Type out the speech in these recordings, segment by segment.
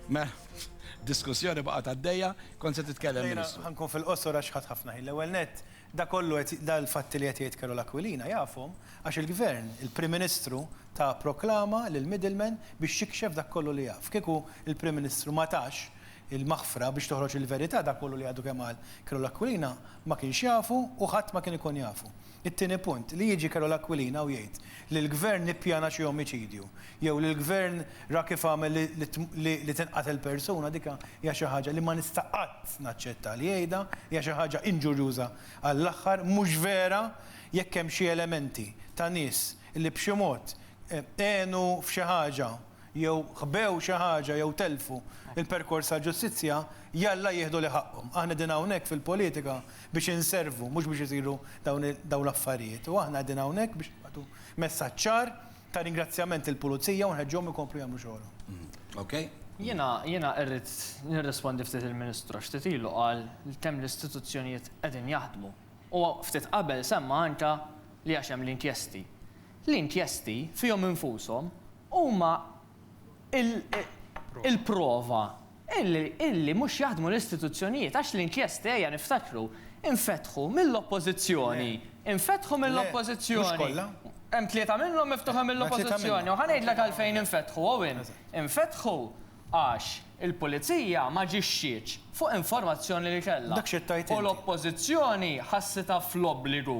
Mela, diskussjoni baqgħet għaddejja, kont se titkellem Jiena Ministru. ħankun fil-qosor għax ħadt ħafna ħin. L-ewwel nett, dak kollu qed dal-fatti li qed jgħid Carol Aquilina jafhom għax il-Gvern, il-Prim Ministru ta proklama lill-middleman biex jikxef dak kollu li jaf. Kieku l-Prim Ministru ma tax il-maħfra biex toħroġ il-verità dak kollu li għadu kemm qal Carol Aquilina ma kienx jafu u ħadd ma kien ikun jafu. It-tieni punt, li jiġi Carol Aquilina u jgħid li l-Gvern ippjana xi omiċidju, jew li l-Gvern ra kif għamel li tinqatel persuna, dik hija xi ħaġa li ma nista' qatt naċċetta li jgħidha, hija xi ħaġa inġurjuża għall-aħħar, mhux vera jekk hemm xi elementi ta' nies li b'xi mod għenu f'xi ħaġa, jew ħbew xi ħaġa jew telfu l-perkors tal-ġustizzja, jalla jieħdu li ħaqqhom. Aħna qegħdin hawnhekk fil-politika biex inservu mhux biex isiru dawn l-affarijiet. U aħna qegħdin hawnhekk biex nibgħatu messaġġ ċar ta' ringrazzjament lill-Pulizija u nħeġġuhom ikomplu jagħmlu xogħolhom. Jiena irrid nirrispondi ftit il-Ministru għax ftit ilu qal li kemm l-istituzzjonijiet qegħdin jaħdmu. U ftit qabel semma anke li għax hemm l-inkjesti. L-inkjesti, fihom infushom, huma l-prova illi mhux jaħdmu l-istituzzjonijiet, għax l-inkjesti, ejja niftakru, infetħu mill-Oppożizzjoni. Infetħu mill-Oppożizzjoni. Hemm tlieta minnhom miftuħa mill-Oppożizzjoni u ħa ngħidlek għalfejn infetħu, Owen. Infetħu għax il-Pulizija ma aġixxietx fuq informazzjoni li kellha u l-Oppożizzjoni ħassitha fl-obbligu,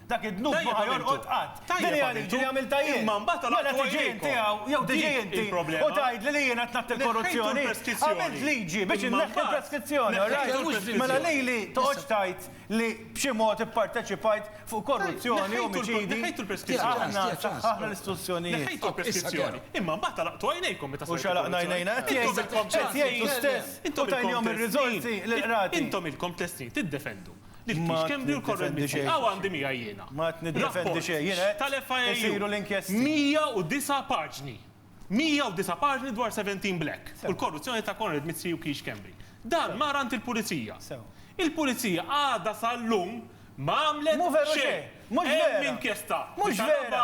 Dak id-dnub ma ħa jorqod qatt. Din hija liġi li għamiltha jien. Mela tiġi inti hawn, jew tiġi inti, u tgħidli li jiena qed ngħatti l-korruzzjoni. Għamilt liġi biex inneħħi l-preskrizzjoni, all right? Mela lili toqgħodx tgħid li b'xi mod ipparteċipajt fuq korruzzjoni, omiċidi. Aħna saħħaħna l-istituzzjonijiet. Neħħejtu l-preskrizzjoni, imma mbagħad għalaqtu għajnejkom meta saret il-korruzzjoni. U x'għalaqna għajnejna? Qed jgħid, qed jgħid l-istess, u tajniehom ir-riżorsi lill-qrati. Intom ilkom tliet snin tiddefendu. Ma tiddefendi xejn. Hawn għandi miegħi jiena. Ma tiddefendi xejn. Jiena qed tal-FIU. Isiru l-inkjesti. 109 paġni. 109 paġni dwar 17 Black u l-korruzzjoni ta' Konrad Mizzi u Keith Schembri. Dan mar għand il-Pulizija. Il-Pulizija għadha sal-lum ma għamlet xejn. Mhu veru xejn. Mhux veru. Hemm inkjesta. Mhux veru.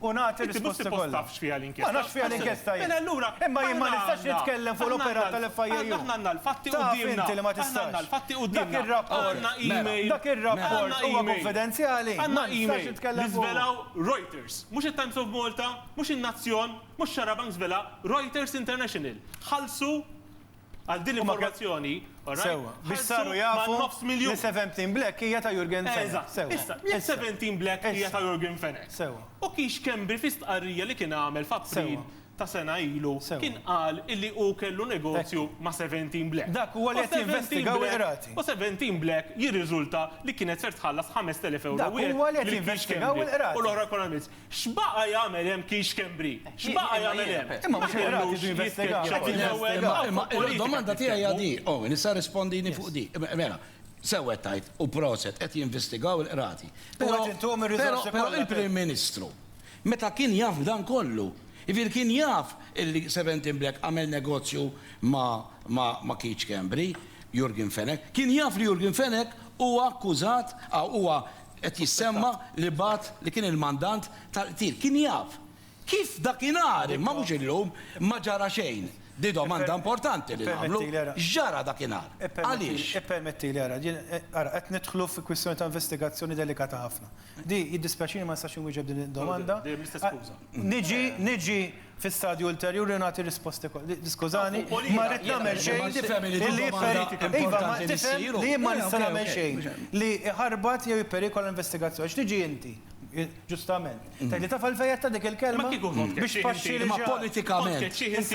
u nagħti risposti kollha. Inti mhux suppost taf x'fiha l-inkjesta. Ma nafx x'fiha l-inkjesta jien. Mela allura. Imma jien ma nistax nitkellem fuq l-operat tal-FIAU. Aħna għandna l-fatti quddiemna. Taf inti li ma tistax. Aħna għandna l-fatti quddiemna. Dak ir-rapport. Għandna email. Dak ir-rapport huwa kunfidenzjali. Għandna email li żvelaw Reuters. Mhux it-Times of Malta, mhux in-Nazzjon, mhux Xarabank żvelha, Reuters International. Ħallsu Għal din l-informazzjoni, ħarsu man-nofs miljun. Sewwa, biex saru jafu li Seventeen Black hija ta' Yorgen Fenech. Eżatt. Sewwa. Issa, jekk Seventeen Black hija ta' Yorgen Fenech. Sewwa. U kiex Schembri fi stqarrija li kien għamel f'April ta' sena ilu kien qal illi hu kellu negozju ma' Seventeen Black. Dak huwa li qed jinvestigaw il-Qrati. U Seventeen Black jirriżulta li kienet ser tħallas 5,000 ewro wieħed lil Keith Schembri u l-oħra Economists. X'baqa' jagħmel hemm Keith Schembri? X'baqa' jagħmel hemm? Imma mhux il-qrati jridu jinvestigaw. Qed il-ewwel. Imma il-domanda tiegħi hija di, Owen, issa rrispondini fuq di. Mela, sew qed tgħid, u proset, qed jinvestigaw il-qrati. Però, però, però il-Prim Ministru meta kien jaf b'dan kollu, jiġifieri kien jaf illi Seventeen Black għamel negozju ma', ma', ma' Keith Schembri, Jurgen Fenech, kien jaf li Jurgen Fenech huwa akkużat, huwa Qed jissemma li bagħat li kien il-mandant tal-qtil. Kien jaf kif dakinhar, imma mhux illum, ma ġara xejn. Di domanda importanti li nagħmlu, x'ġara dakinhar? Għaliex? Ippermettili, ara, jien, ara, qed nidħlu fi kwistjoni ta' investigazzjoni delikata ħafna. Di, jiddispjaċini ma nistax inwieġeb din id-domanda. Dejjem l-istess skuża. Niġi, niġi, Fi stadju ulterjuri nagħti risposti kollha. Di, skużani, ma rrid nagħmel xejn li jipperikola. Iva, ma tifhem li jien ma nista' nagħmel xejn li jħarbat jew jipperikola l-investigazzjoni. Għax tiġi inti, ġustament, tgħid li taf għalfejn għedtha dik il-kelma? Biex tpaxxi lil xi ħadd. Politikament.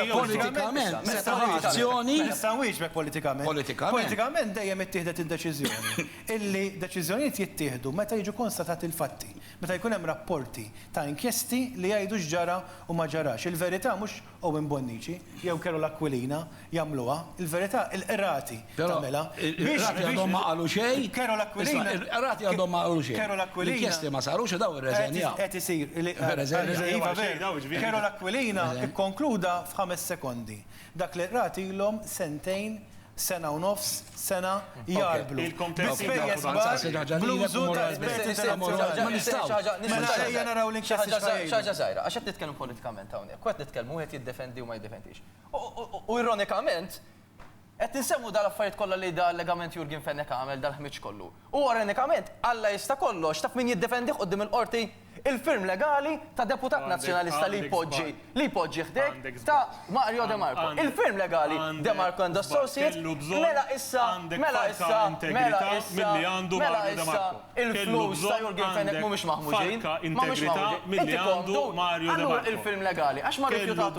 Politikament. Se tieħu azzjoni. Nista' nwieġbek politikament. Politikament. Politikament dejjem ittieħdet id-deċiżjoni. Illi deċiżjonijiet jittieħdu meta jiġu konstatati l-fatti. Meta jkun hemm rapporti ta' inkjesti li jgħidu x'ġara u ma ġarax, il-verità mhux Owen Bonnici jew Carol Aquilina jagħmluha, il-verità il-qrati tagħmilha. Il-qrati għadhom ma qalu xejn. Carol Aquilina. Il-qrati għadhom ma qalu xejn. Carol Aquilina. L-inkjesti ma sarux u dawn irreżenjaw. Qed isir. Iva veru. Carol Aquilina kkonkluda f'ħames sekondi dak li l-qrati ilhom sentejn sena u nofs, sena, jgħarblu bi spejjeż kbar bl-użu ta' esperti internazzjonali. Ma nistgħux. Mela ejja naraw l-inkjesti x'ħa jgħidu. Xi ħaġa żgħira, għax qed nitkellmu politikament hawnhekk, u qed nitkellmu wieħed jiddefendi u ma jiddefendix. U ironikament qed insemmu dawn l-affarijiet kollha li da allegament Yorgen Fenech għamel, dal-ħmieġ kollu. U orenikament, Alla jista' kollox, taf min jiddefendih quddiem il-Qorti? Il-firm legali ta' deputat Nazzjonalista li jpoġġi, li jpoġġi ħdejk, ta' Mario De Marco. Il-firm legali, De Marco and Associates, mela issa, mela issa, mela issa, mela issa, il-flus ta' Jurgen Fenech mhumiex maħmuġin, ma mhumiex maħmuġin. Inti komdu? Allura il-firm legali, għax ma rrifjutatux.